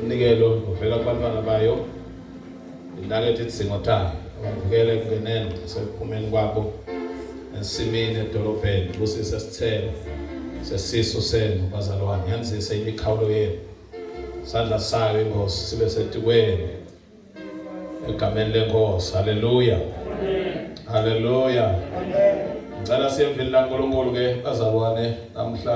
Umnikelo uvela kubantwana bayo inaketha idzingo tayo uvukela ekungeneni nasekuphumeni kwabo ensimini edolobheni busise sithelo sesisu senu bazalwane yanzise imikhawulo yenu sandla sayo inkosi sibe setikweni egameni lenkosi haleluya haleluya ngicela siyemvini lankulunkulu ke bazalwane namhla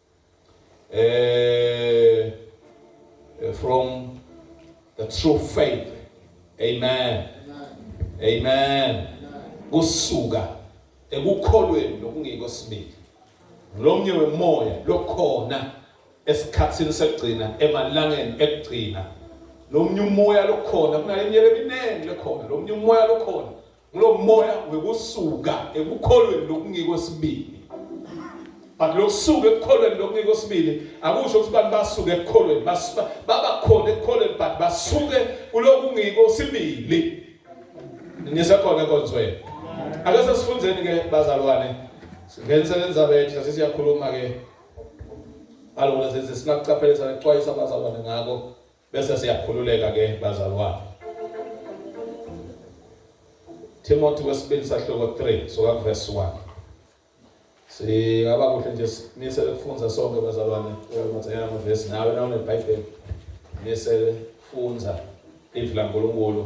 eh, eh from the true faith amen amen kusuka ekukholweni nokungekho sibili ngilomnye wemoya lokhona esikhathini sekugcina emalangeni ekugcina lomnye umoya lokhona kunale minyaka eminingi lekhona lomnye umoya lokhona Kulo moya wekusuka ekukholweni lokungiko sibili. But lokusuka ekukholweni lokungiko sibili akusho ukuthi abantu basuke ekukholweni basuka babakhona ekukholweni but basuke kulokungiko sibili. Nisekhona konzweni. Ake sesifundeni ke bazalwane. Ngenseleni zabethu sase siyakhuluma ke. Alona senze sinakucaphelisa nekuxwayisa abazalwane ngako. Bese siyakhululeka ke bazalwane. Timothy wesibili sahloko 3 soka verse 1. Singaba kuhle nje simisele kufunza sonke bazalwane uyakumathanyana amavesi nawe na uneBhayibheli misele funza ivi laNkulunkulu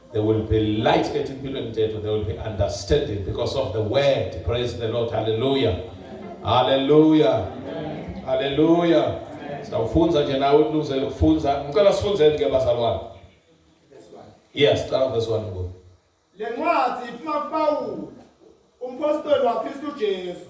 There will be light ethi impilo mthetho there will be understanding because of the word praise the Lord hallelujah hallelujah hallelujah sitawufunza nje nawe unuze ukufunza ngicela sifunzeni ke bazalwane yes cala verse 1 ngoku le ncwadi iphuma kuPawulu umpostoli waKristu Jesu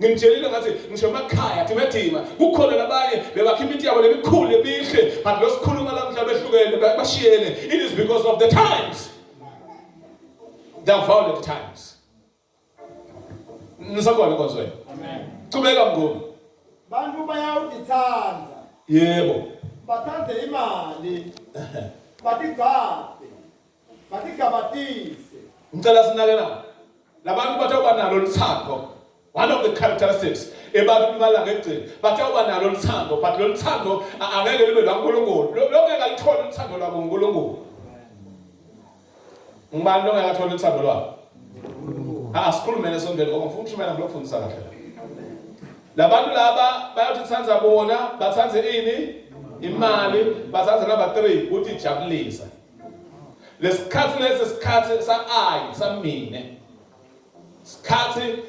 Ngimtshelile ngathi ngisho emakhaya thina thina kukhona labanye bebakha imithi yabo lemikhulu emihle but losikhuluma la mhla behlukene bashiyene it is because of the times the violent times Nisakona konzwe amen Cubeka mngoma Bantu bayawudithanda Yebo bathanda imali batigcaba Matigabatise. Ngicela sinakelana. Labantu bathe uba nalo lithando. One of the characteristics ebantwini balanga ekugcina bathe uba nalo lithando but lo lithando angeke libe lwaNkulunkulu. Longeke alithole uthando lwaNkulunkulu. Ngubani longeke athole uthando lwakhe? Ha sikhulumele esondweni ngoba ngifuna ukushumayela ngilofundisa kahle. Labantu laba bayothi thanda bona, bathanda ini? Imali, bathanda number 3 uthi jabulisa. lesikhathi lesi sikhathi sa-i samine sikhathi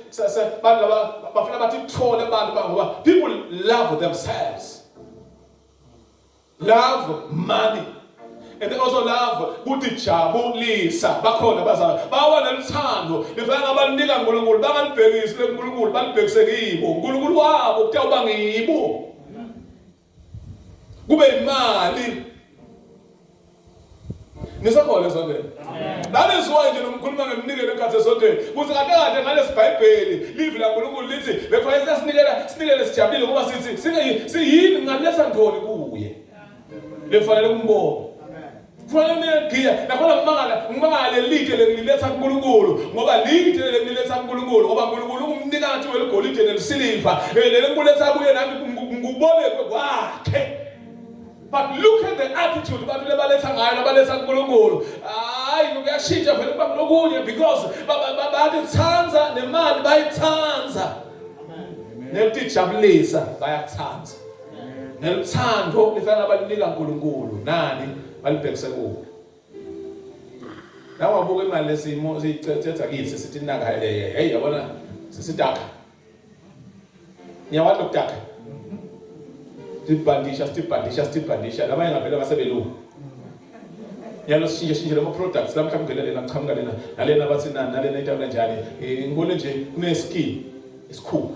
bantu laba bafuna bathi kuthole abantu bangoba people love themselves love money and also love kuthi jabulisa bakhona bazala bawa nelithando lifana ngabanika uNkulunkulu bangalibhekisi lekuNkulunkulu balibhekise kibo uNkulunkulu wabo kuthiwa ubangibo kube imali nisakhona esontweni naleziwayo nje nomkhuluma ngemnikelo ekhathi esontweni kuthi kakade ngalesi bhayibheli livi lankulunkulu lithi bekufanele sasinikela sinikele sijabulile ngoba sithi siyini ngalesa ndoni kuye lefanele kumbona Kufanele niyegiya nakhona ngimangala ngimangala lelide lengililetha kuNkulunkulu ngoba lide lengililetha kuNkulunkulu ngoba uNkulunkulu ungumnikazi weligolide nelisiliva leli ngikuletha kuye nami ngikubolekwe kwakhe but look at the attitude abantu lebaletha ngayo nabaletha kuNkulunkulu hayi kuyashintsha vele kuba kulokunye because bayithanda nemali bayithanda nekutijabulisa bayakuthanda neluthando nifana balinika uNkulunkulu nani balibhekise kuwe nawe wabuka imali lesimo siyicethetha kithi sithi naka hey yabona sisidaka niyawazi lokudaka sibhandisha sibhandisha sibhandisha labanye ngavele basebelungu yalo sishintshe shintshe lama products lamhla kungena lena kuchamuka lena nalena bathi nani nalena into kanjani ngibone nje kune skill isikhumba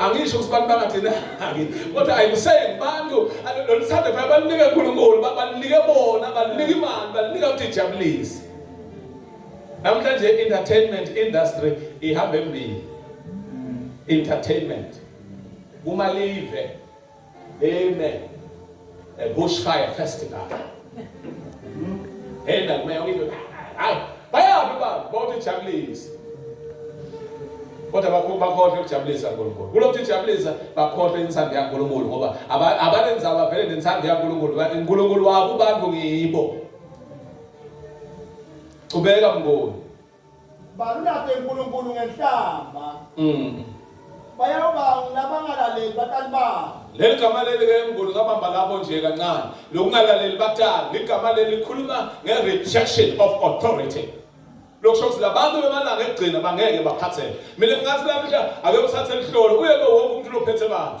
angisho ukuthi abantu bangathenaki kodwa i'm saying bantu lolu sande phela balinike unkulunkulu balinike bona balinike imali balinike ukuthi ijabulise namhlanje entertainment industry ihamba embili entertainment kumalive Amen. A bushfire festival. Hey, that may only do. Bayaphi ba bonke jabulisa. Kodwa bakho bakhohle ukujabulisa uNkulunkulu. Kulokhu ijabulisa bakhohle insando yaNkulunkulu ngoba abanenza abavele nensando yaNkulunkulu. uNkulunkulu wabo abantu ngibo. Qhubeka mngoni. Balulaphe uNkulunkulu ngenhlamba. Mm. Bayawubanga labangalaleli batali babo. Leli gama leli ke mnguni kabamba lapho nje kancane. Lokungalaleli batali ligama leli likhuluma nge-rejection of authority. Lokusho ukuthi labantu bemalanga ekugcina bangeke baphatheke. Mina ngingathi la mhla ake uthathe lihlolo uye ke wonke umuntu lophethe bandla.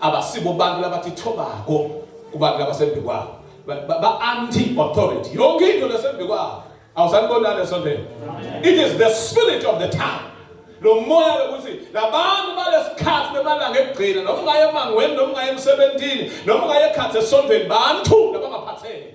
abasibo abantu labathi thobako kubantu labasembi kwabo ba-anti authority yonke into lasembi kwabo awusanibonani esonteni it is the spirit of the time lo moya lokuthi labantu balesikhathi bemalanga ekugcina noma ungaye emangweni noma ungaye emsebenzini noma ungaye ekhathi esontweni bantu labangaphatheki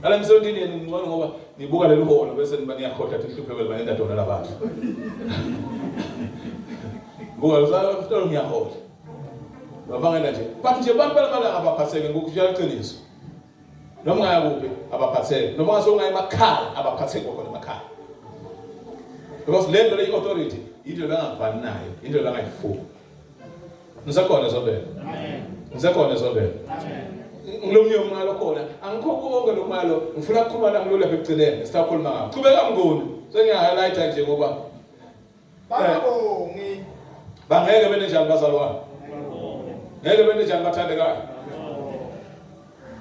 Ngale msondini yenu ngcono ngoba nibuka leli holo bese niba niyakhoda ukuthi ihlupheko liba nenda dona labantu. Buka usafuna ngiyahola. Babangela nje. But nje abantu balabala abaphatheke ngokujela iqiniso. Noma ngaya kuphi abaphatheke. Noma ngasonga emakhaya abaphatheke kokona emakhaya. Because le nto le authority into ebangavani nayo, into ebangayifuni. ngisekhona ezobela ngisekhona ezobela ngilomnye umalo khona angikho konke lo malo ngifuna kukhuluma nami lolu lapha ekugcineni sisakhuluma ngakho qhubeka mnguni sengiya-highlighta nje ngoba babongi eh. bangeke bene njani bazalwane ngeke bene njani bathandekayo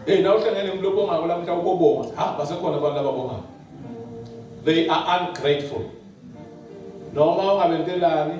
eyi na uhlangene mntu obongako la mntu awubobonga ha basekhona abantu ababongako they are ungrateful noma ungabentelani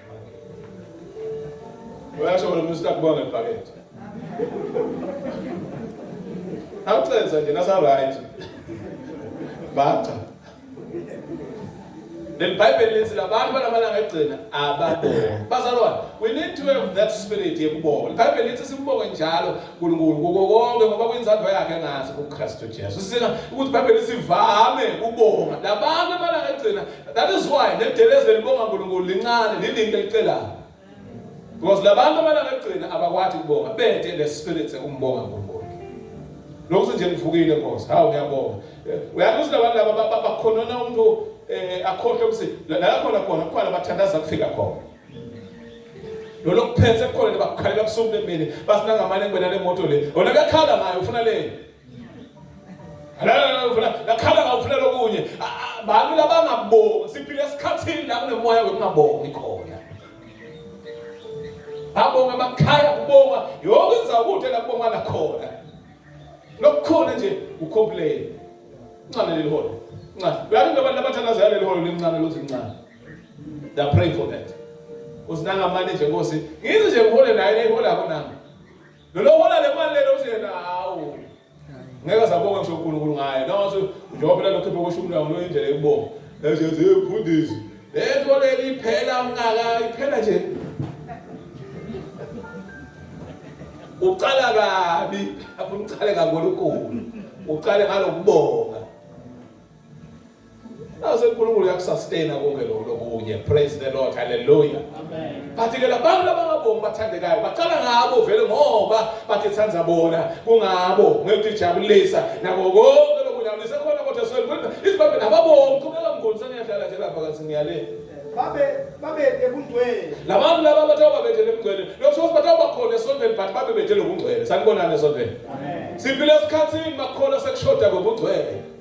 Uyasho wena umuntu sitakubuka ngebhakede. Awucenza nje nasa right. Baca. Then Bible lithi labantu balamalanga egcina ababonga. Bazalwane, we need to have that spirit yekubonga. Bible lithi simbonge njalo uNkulunkulu kuko konke ngoba kwinzando yakhe ngathi kuKristu Jesu. Sisina ukuthi Bible lisivame ukubonga. Labantu amalanga egcina That is why nedelezi lelibonga uNkulunkulu lincane lilinto elicelayo. Because labantu abalala ekugcina abakwathi kubonga bede le spirit sekumbonga uNkulunkulu. Lokho nje ngivukile Nkosi. Hawu ngiyabonga. Eh, uyazi ukuthi labantu laba bakhonona umuntu eh akhohle ukuthi la khona khona kukhona bathandaza kufika khona. Lo lokuphethe khona bakukhalela ubusuku bemini basinangamane ngibena le moto le. Wona kakhala ngayo ufuna le. lakhala ngawufuna lokunye bantu labangabongi siphile esikhathini la kunemoya wekungabongi khona babonga emakhaya kubonga yonke inzawo kude la kubonga lakhona lokukhona nje ucomplain ncane leli holo ncane uyathi njengoba labathandazayo leli holo lincane lothi lincane they are praying for that usinanga manje nje nkosi ngizi nje ngihole naye nehole akho nami Lelo hola le mali lelo uthi yena hawu. Ngeke sabonga ngisho uNkulunkulu ngaye. Nawo uthi njengoba phela lokhipha koshumi lawo noyindlela yokubonga. Ezo zimfundisi. Lento leli iphela mngaka iphela nje. Uqala kabi, afuna uqale ngakulunkulu. Uqale ngalokubonga. Naze uNkulunkulu uyakusustain konke lokho lokunye. Praise the Lord. Hallelujah. Amen. Bathi ke labantu labangabongi bathandekayo baqala ngabo vele ngoba bathi thanda bona kungabo ngeke ijabulisa nabo konke lokujabulisa khona kodwa sweli kodwa isibabhe nababongi qhubeka mngoni seniyadlala nje lapha kathi ngiyale. Babe babe ebungcwele. Labantu laba bathe babethe ebungcwele. Lokho ukuthi bathe bakhona esontweni but babe bethe lobungcwele. Sanibonana esontweni. Amen. Siphile esikhathini bakholwa sekushoda ngobungcwele.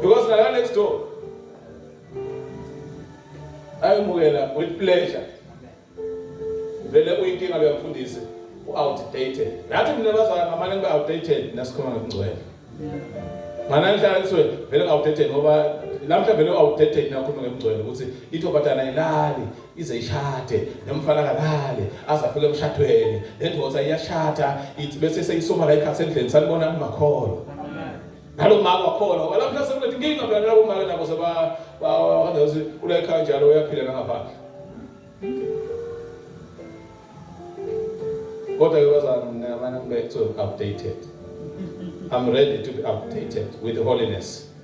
because ngala next door ayomukela with pleasure vele uyinkinga leyo mfundisi u-outdated nathi mina bazala ngamane ngibe outdated nasikhuluma ngokungcwele mana ngihlala kuthiwe vele ngi-outdated ngoba namhla vele u-outdated nakhuluma ngokungcwele ukuthi ithobatana ilali ize ishade nomfana kalale aze afike emshadweni lendoda iyashada ithi bese seyisoma la ikhathi endleni sanibona kumakholo nalo mama wakhona ngoba lapho nase kulethi inkinga phela nalabo mama nabo seba bakade uthi ule ekhaya njalo uyaphila nangaphandle kodwa ke bazana mina abanye ngibe to updated I'm ready to be updated with holiness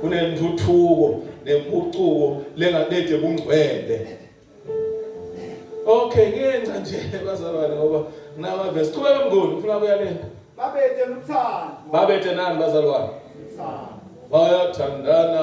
kunentuthuko nempucuko lengalethe kungcwele okay ngenca nje bazalwane ngoba nginama verse qhubeka mngoni ufuna kuya le babethe luthando babethe nani bazalwane bayathandana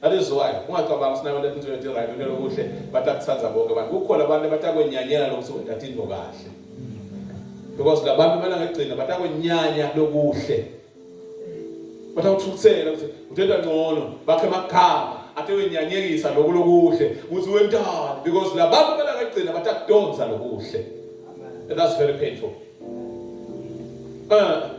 That is why ungacabangi ukuthi nayo lento into right into lokuhle batakuthanda bonke abantu kukhona abantu abatakwenyanyela lokuthi wena tathi into kahle because labantu kumele ngegcina batakwenyanya lokuhle batawuthukuthela ukuthi uthetha ngcono bakhe amakhama athe wenyanyekisa lokhu lokuhle ukuthi wentani because labantu kumele ngegcina batakudonsa lokuhle and that's very painful uh,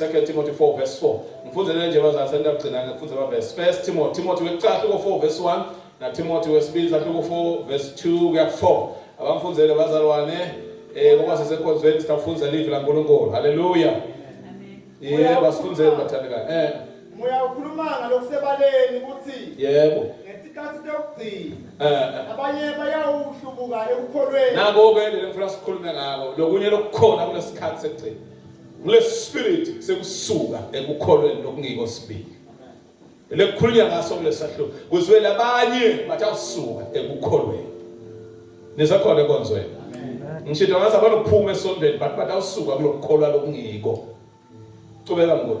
2 Timothy 4 verse 4 ngifunzele nje bazali seniyakugcina ngifunze ama verse 1 Timothy Timothy wekuqala ko 4 verse 1 na Timothy wesibili sathi ko 4 verse 2 kuya 4 abamfunzele bazalwane eh ngoba sisekhonzweni sitafunzela ivi laNkulunkulu haleluya amen yebo basifunzele bathandekayo eh moya ukhuluma ngalokusebaleni ukuthi yebo ngesikhathi sokugcina eh, eh. abanye bayawuhlubuka ekukholweni nako ke lelo ngifuna sikhulume ngako lokunye lokukhona kulesikhathi sekugcina Kulesi spirit sekusuka ekukholweni lokungiko sibili. Lekukhulunywa ngaso kulesahluko kuzwele abanye bathi awusuka ekukholweni. Nisakhona ekonzweni. Ngisho ngathi abanokuphuma esondweni but bathi awusuka kulokukholwa lokungiko. Cubeka ngikho.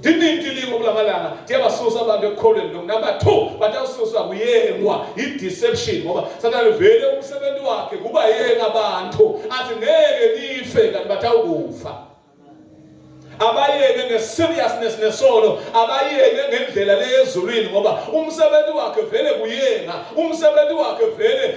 Dinintilibo kulamalanga tiyabasusa abantu ekukholweni lokhu number 2 batawususwa kuyengwa i-deception ngoba sathane vele umsebenzi wakhe kuba yenga abantu athi ngeke nife kanti batawukufa abayeke ngeseriousness nesono abayeke ngendlela leyezulwini ngoba umsebenzi wakhe vele kuyenga umsebenzi wakhe vele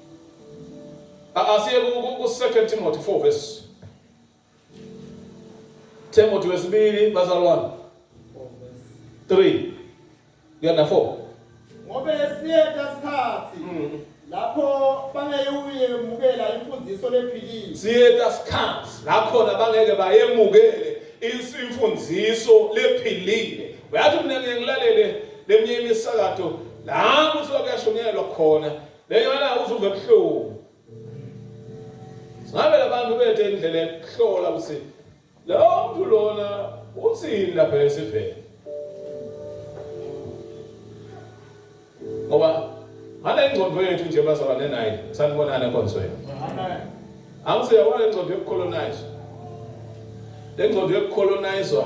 Asiye ku-2 Timothy 4 verse Timothy wesibili bazalwane 3 kuya na 4 ngoba esiyeta sikhathi mm. lapho bangeyuyemukela imfundiso lephilile siyeta sikhathi lakhona bangeke bayemukele imfundiso lephilile uyathi mina ngilalele leminye imisakato la kuthi kwakuyashonyelwa khona Leyona uzumbe ebuhlungu. Singabe labantu bethe indlela yokuhlola ukuthi lawo mntu lona uthini lapha esivele. Ngoba ngale ngqondo yethu nje bazaba nenayi sanibonana enkonsweni. Amen. Angise yabona ingqondo yokucolonize. Le ngqondo yokucolonizwa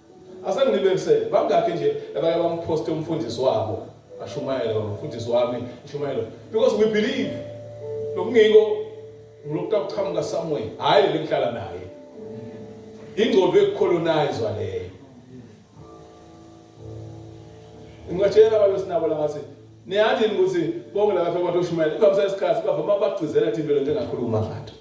Asengilibekisele bangakhe nje abake bamposte umfundisi wabo ashumayela umfundisi wami ushumayela because we believe lokungiko ngilokutha kuqhamuka somewhere hayi lengihlala naye ingqondo ekucolonizwa leyo ngingatshela abantu sinabo la ngathi Niyathini ukuthi bonke laba fema toshumayela ivamisa isikhathi bava uma bakugcizela thini lento engakhuluma ngathi.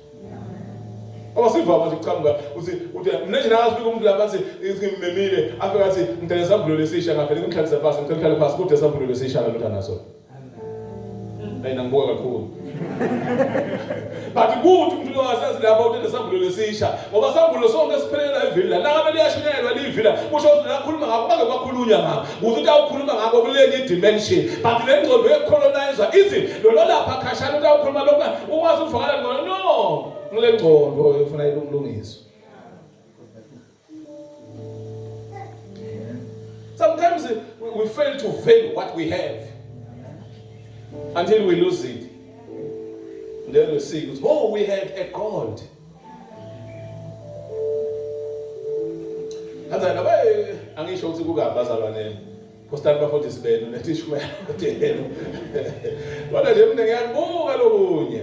Uma sivama nje kuqhamuka uthi uthi mina nje nazi umuntu lapha athi ngimemile afika athi ngidele sambulo lesisha ngavele ngimhlalisa phansi ngicela uhlale phansi kude sambulo lesisha lalo thana so. Ayina ngibuka kakhulu. but kuthi umfika wasenzi lapho utende sambulo lesisha ngoba sambulo sonke siphelela ivila nangabe liyashunyelwa livila kusho ukuthi nakhuluma ngakho bake bakhulunya ngakho kuthi ukuthi awukhuluma ngakho kulenye dimension but le ngcondo yecolonizer ithi lona lapha khashana ukuthi awukhuluma lokho ukwazi ukuvakala ngcono no ngile ngcondo efuna ilungiswe Sometimes we fail to value what we have until we lose it. And then we see, oh, we had a God. kanjani aba angisho ukuthi kukabi bazalwane postani bafundisi benu netishumela kodwa nje mina ngiyakubuka lokunye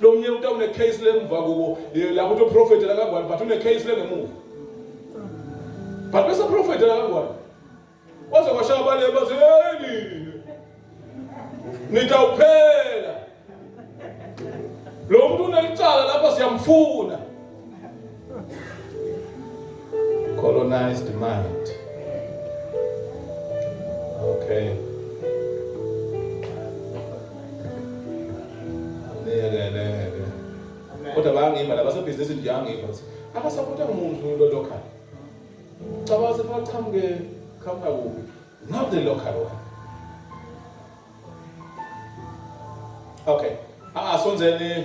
Lo mnye umuntu une case lemva kuwo eh, lapho uthi prophet la kangwani but une case lengemuva. But bese prophet la kangwani. Waze kwashaya bale bathi hey nini. Nitawuphela. Lo muntu unelicala lapho siyamfuna. Colonized mind. Okay. kodwa bayangiva la basebhizinisi nje angiva ukuthi abasapotha muntu lo local cabanga sefuna kuqhamuke qhamuka kuphi not the local one okay asonzeni ah,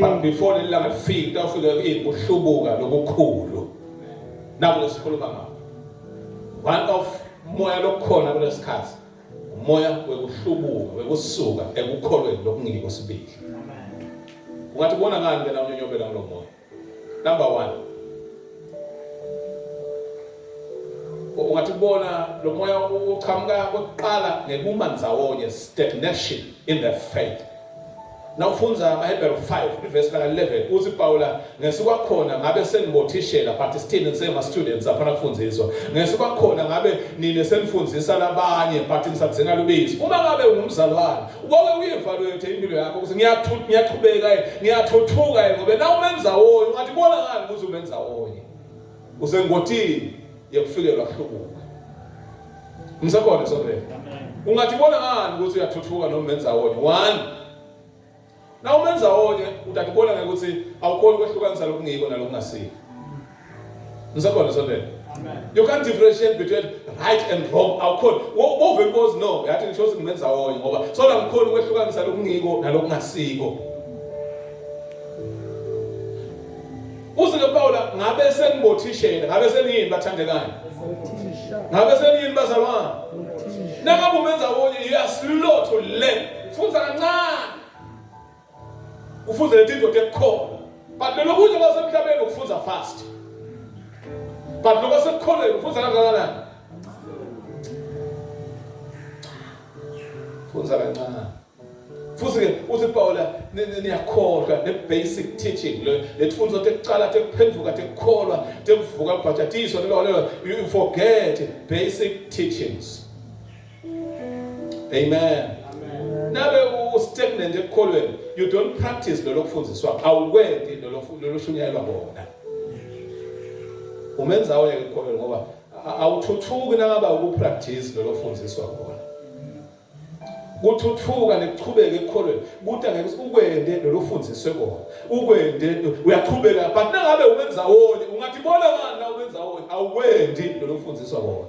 but before leli langa lifike kutawufika iy'kuhlubuka lokukhulu nakulo sikhuluma ngabo one of moya lokukhona kulesi sikhathi umoya wekuhlubuka wekusuka ekukholweni lokungiko sibili ungathi kubona ngani ke la unyonyobela kulo moya Number one. Ungathi kubona lo moya uchamuka kokuqala ngekuma ndzawonye stagnation in the faith. Nawufunza amaHebheru 5 iverse ka 11 uthi Pawula ngesukwakhona ngabe senibothishela but still ngisema students afana kufundiswa. Ngesukwakhona ngabe nine senifundisa labanye but nisadzinga lubizi. Uma ngabe ungumzalwane Wake uyevaluate impilo yakho ukuthi ngiyathuka ngiyaqhubeka ngiyathuthuka ngoba na umenza wonye ungathi bona ngani ukuthi umenza wonye. Usengotini yokufikelwa kuhlubuka. Ngisekhona sonke. Ungathi bona ngani ukuthi uyathuthuka noma umenza wonye. One Nawe umenza onye udade ubona ngeke ukuthi awukhoni ukwehlukanisa lokungiko nalokungasiko. Ngisekhona sondela. You can't differentiate between right and wrong. Awukhoni. Wovele ubozi no, yathi ngisho ukuthi ngimenza onye ngoba sona ngikhona ukwehlukanisa lokungiko nalokungasiko. Usike Paula ngabe sengibothishela, ngabe seniyini bathandekayo. Ngabe seniyini bazalwane. Noma kumenza onye you are slow to learn. Funza kancane. Ufunze lethi indoda ekukhona. But belokuthi basemhlabeni ukufunza fast. But lokho sekukholweni ufunza kangakanani? Funza kancane. futhi ke uthi Paula niyakholwa ne basic teaching le letfunzo tekucala tekuphendvuka tekukholwa tekuvuka kubhajatiswa lelo lelo you forget basic teachings Amen. Nabe ustagnant ekukholweni, you don't practice lelo kufundiswa, awukwendi lelo lelo shunyayelwa bona. Umenza oye ekukholweni ngoba awuthuthuki nakaba ukupractice lelo kufundiswa bona. kuthuthuka nekuchubeke ekukholweni kuthi angeke ukwende lelo fundiswe kona ukwende uyaqhubeka but nangabe ubenza woni ungathi bona ngani na ubenza woni awukwendi lelo fundiswa kona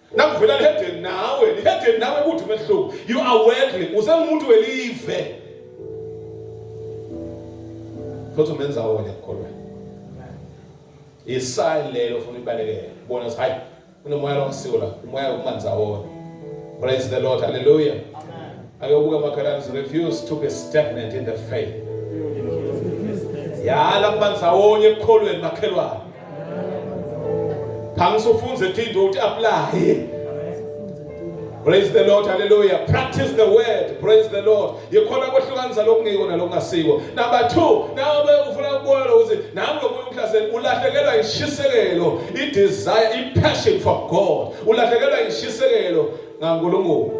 Nakuvela lihedeni nawe, lihedeni nawe kuthi umehluko. You are worldly, usengumuntu welive. Kodwa umenza wona ekukholwa. Isayini lelo ufuna ibalekele. Bona ukuthi hayi unomoya longisiwo la, umoya ukumanza wona. Praise the Lord. Hallelujah. Amen. Ayobuka makhalani refuse to be stagnant in the faith. Yala kumanza wonye ekukholweni makhelwane. Khangisufunze thindo uthi apply. Praise the Lord, hallelujah. Practice the word, praise the Lord. Yikhona kwehlukanisa lokungiko nalokungasiko. Number 2, nawe ufuna ukubona ukuthi nami lomuntu umhlaseli ulahlekelwa ishisekelo, i desire, i passion for God. Ulahlekelwa ishisekelo ngaNkulunkulu.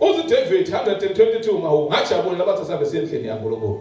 Uthi David 122 mawu ngajabula labathi asambe sendlini yaNkulunkulu.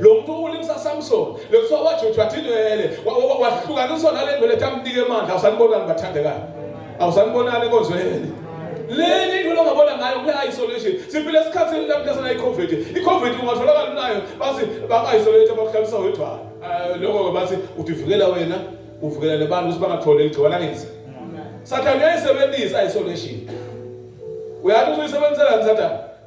lo muntu ulimsa Samson lokuthiwa wajutshwa thinwele wahlukaniswa nale ndwele tamnike emandla awusanibonani bathandekayo awusanibonani enkonzweni leli into longabona ngayo kule isolation siphile esikhathini lapho lasana icovid icovid ungatholakala unayo bathi baka-isolate bakuhlalisa wedwana ah, lokho-ke bathi uthi uvikela wena uvikela nebantu ukuthi bangatholi ligciwana ngenzi sathane uyayisebenzisa isolation uyathi uzuyisebenzisela ni sathane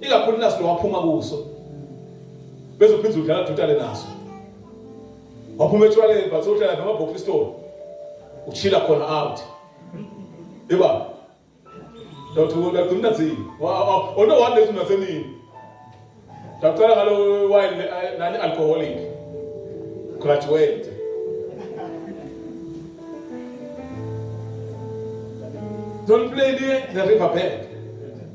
ikakhulu naso waphuma kuso bese uphinde udlala dutale naso waphuma etshwaleni but udlala noma box store uchila khona out yeba Dawuthi wona gcina thini ona one lezi nasemini Dawucela ngalo wine eh, nani alcoholic graduate Don't play the river bank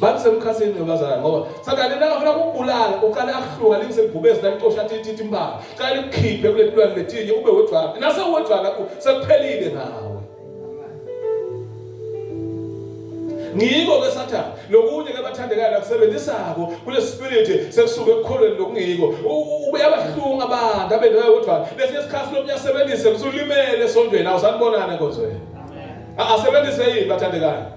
bakusemkhathini nobazalwane ngoba sathane nakafuna ukubulala uqale akuhluka liseligubezi lalicosha thithi impaka cala likukhiphe kule tulwane letinye ube wedwana nase wedwana sekuphelile nawe ngiko ke sathane lokunye ke bathandekayo lakusebenzisako kule spirit sekusuka ekukholweni lokungiko uyabahlunga abantu abe nawe wedwana lesinye isikhathi lomunye asebenzise kusulimele esondweni awusanibonane nkonzweni asebenzise yini bathandekayo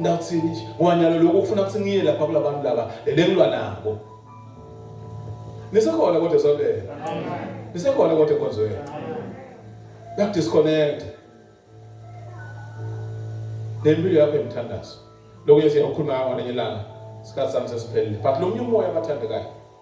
Ngawuthini nje? Ngoba nyalo lokho ufuna ukuthi ngiye lapha kulabantu laba lelengilwa nabo. Nisekhona kodwa sondela. Nisekhona kodwa enkonzweni. Yak disconnect. Nempilo yakho emthandazo. Lokho yesiya ukukhuluma ngakho ngenyanga. Sikhathi sami sesiphelile. But lo mnye umoya abathandekayo.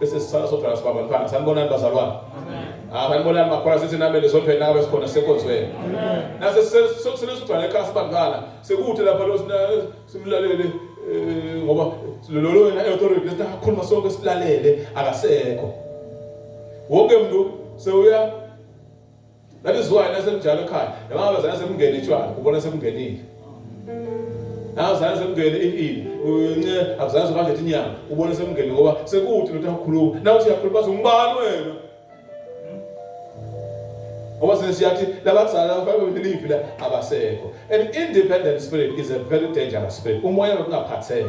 Bese sisala sodwa nasibaba mkhana. Sanibonani bazalwane. Ah sanibonani makhona sithi namele sodwa nawe sikhona sekonzweni. Nase sesizogcwala ekhaya sibangana. Sekuthi lapha lo sina simlalele eh, ngoba lolo wena authority lesikhuluma sonke silalele akasekho. Wonke umuntu sewuya That is why nasemjalo ekhaya noma zana semngene itshwala ubona semngenile. Nawo zana semngene inini unce akuzazi kanje inyanga ubona semngene ngoba sekuthi lento yakhuluma nawo siyakhuluma zungibani wena. Ngoba sesiyathi labazali abafanele belive la abasekho. An independent spirit is a very dangerous spirit. Umoya wokungaphatheki.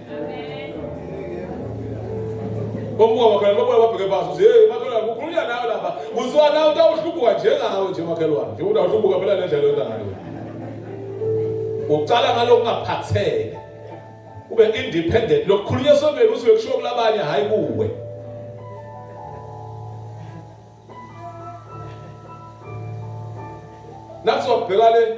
Omuka makhelwane babuya babheke baso uthi hey makhelwane kukhulunywa nawe lapha kuthiwa nawe utawuhlubuka njengawe nje makhelwane njengoba utawuhlubuka phela le ndlela yonayo ucala ngalokungaphatheka ube independent lokukhulunywa sombeni uthi uyokushiwo kulabanye hhayi kuwe nathi wabheka le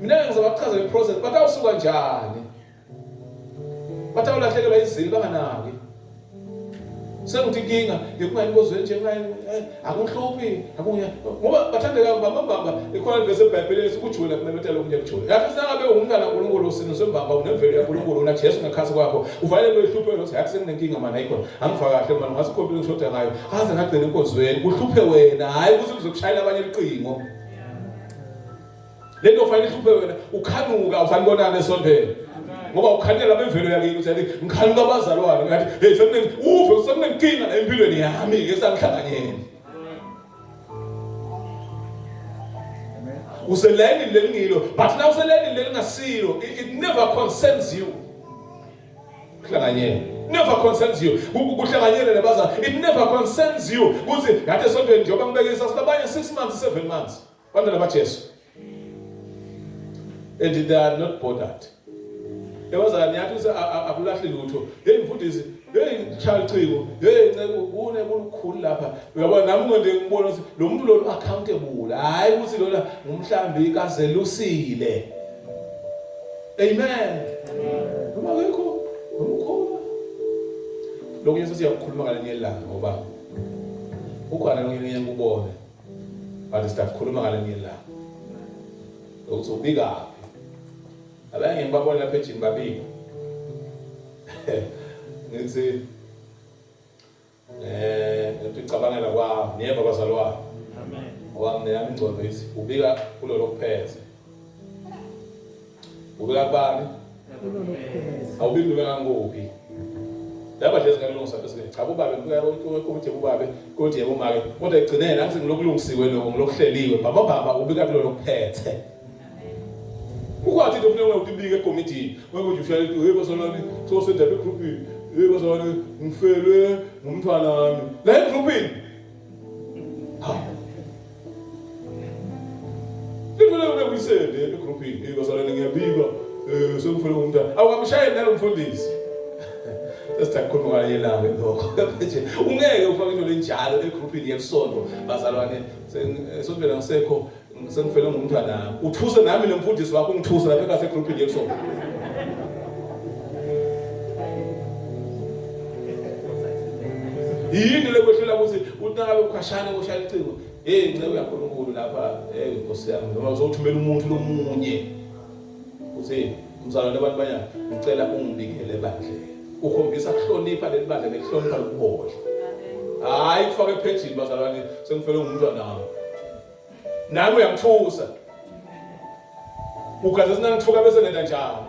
Mina ngizama kuchaza le process bathi awusuka njani. Bathi awulahlekelwa izili banganaki. Sengithi inkinga ngikungani kozweni nje ngani eh, akuhluphi akunya ngoba bathandeka baba baba ikhona lesi eBhayibhelini sikujuwela kumemethela okunye kujule. Yathi sangabe ungumntana uNkulunkulu usino sembamba unemvelo yaNkulunkulu una Jesu ngekhathi kwakho uvalelwe ihlupheko lokuthi hayi senginenkinga mana ikhona angifa kahle mana ngasikhompile ngishoda ngayo aze ngagcina inkozweni kuhluphe wena hayi ukuthi kuzokushayela abanye iqingo. le nto fanele ihluphe wena ukhanuka usanibonana esondela ngoba ukhanuka laba imvelo yakini uthi yathi ngikhanuka abazalwane ngathi hey sekune uve sekunenkinga la empilweni yami ke sangihlanganyeni uselayini lelingilo but na uselayini lelingasilo it never concerns you kuhlanganyela never concerns you kuhlanganyele nebazali it never concerns you kuthi ngathi esontweni njengoba ngibekisa sinabanye 6 months 7 months Bantwana baJesu. And they are not bothered. Yabazani yathi uthi akulahli lutho. Hey mfundisi, hey chalichiko, hey nceku kune kulukhulu lapha. Uyabona nami ngonde ngibona ukuthi lo muntu lo accountable. Hayi ukuthi lona ngumhlambi kazelusile. Amen. Uma ngikho ngomkhulu. Lokho Yesu siyakukhuluma ngale nyelanga ngoba ukhona lokho ngiyengubone. Kanti sitakukhuluma ngalenye ilanga. Ukuthi ubikaphi. Abanye ngibabona lapha ejini babika. Ngithi eh ngicabangela kwami niyeva bazalwane. Amen. Ngoba mina ingcondo ithi ubika kulolo kuphethe. Ubeka kubani? Awubiki ubeka ngokuphi? Laba nje singakulungisa bese cha kubabe kuya ukuthi kubabe kuthi yebo make kodwa egcineni angithi ngilokulungisiwe lokho ngilokuhleliwe baba baba ubika kulo lokuphethe. Ukwathi into kufuneka ukubika ekomidini ngokuthi ushaya into hey basalwane so sendaba egroup hey basalwane ngifelwe ngumntwana wami la egroup uyisende egrouphini hey bazalwane ngiyabika eh sekufanele umntana awukamshayeli nalo mfundisi sesithatha khuluma kanye nawe lokho nje ungeke ufake into lenjalo egrouphini yesonto bazalwane eh, sokuphela ngisekho Sengifele ngumntwana. Uthuse nami nomfundisi wakho ungithuse lapha ngase group nje so. Yini lekwehlula ukuthi unawe ukhashana koshaya icingo. Hey nceku yaNkulunkulu lapha hey Nkosi yami noma uzothumela umuntu lomunye. Uthi umzalwane abantu banyana ngicela ungibikele bandlela. Ukhombisa kuhlonipha leli bandla nekuhlonipha lokuboshwa. Hayi kufaka ephejini bazalwane sengifele ngumntwana wami. Nami uyangithusa. Ugazi esinangithuka bese ngenda njalo.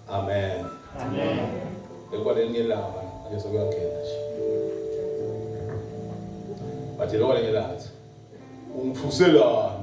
Amen. Amen. Ekwa lelinye langa ake sokuyangena nje. Bathi lokho lelinye langa ungithuselani?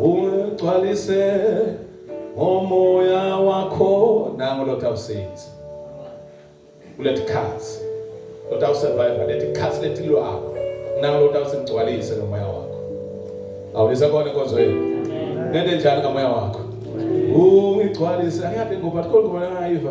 Ungigcwalise ngomoya wakho nango Lord of Saints. Let cuts. Lord of survivor, let cuts let lwakho. Nango Lord of singigcwalise ngomoya wakho. Awulisa kona inkonzo yenu. Nende njani ngomoya wakho? Ungigcwalise. Angiyabe ngoba kodwa ngibona ngayiva.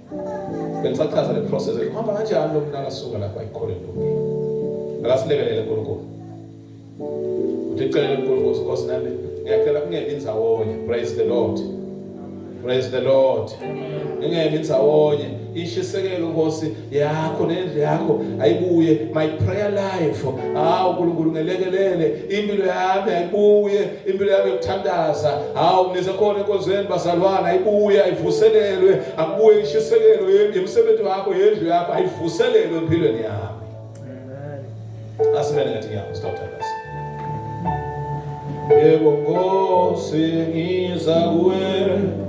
Bengisachaza le process ehamba kanjani lo mntana suka lapha ayikholwe ntombi. Akasilekelele uNkulunkulu. Uthi celele uNkulunkulu ukuthi nami ngiyacela kungemi ndzawonye. Praise the Lord. Praise the Lord. Ngingemi ndzawonye. Ishisekelo Nkosi yakho nendlu yakho ayibuye my prayer life. Hawu uNkulunkulu ngelekelele impilo yami ayibuye impilo yami yokuthandaza hawu nisekhona enkonzweni bazalwana ayibuye ayivuselelwe akubuye ishisekelo yemisebenzi wakho yendlu yakho ayivuselelwe empilweni yami asimele ngathi ngiyabo sitawuthandaza yebo nkosi ngiza kuwe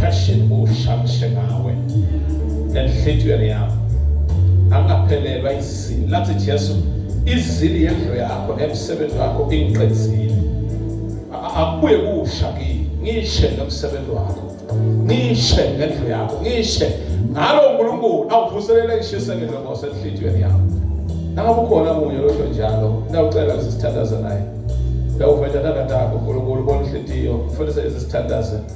Passion ushamishe ngawe nenhlithiyo yakho angaphelelwa izini lathi Jesu izili yendlu yakho emsebenzi wakho ingiqedzile akubuye kusha kimi ngishe nomsebenzi wakho ngishe ngendlu yakho ngishe ngalo uNkulunkulu awuvuselele ishisekelo ngosenhlitiyweni yakho noma kukhona munye losho njalo nawucela usithandaza naye lawuveta nakatakho uNkulunkulu bonhlitiyo ufundise izithandaza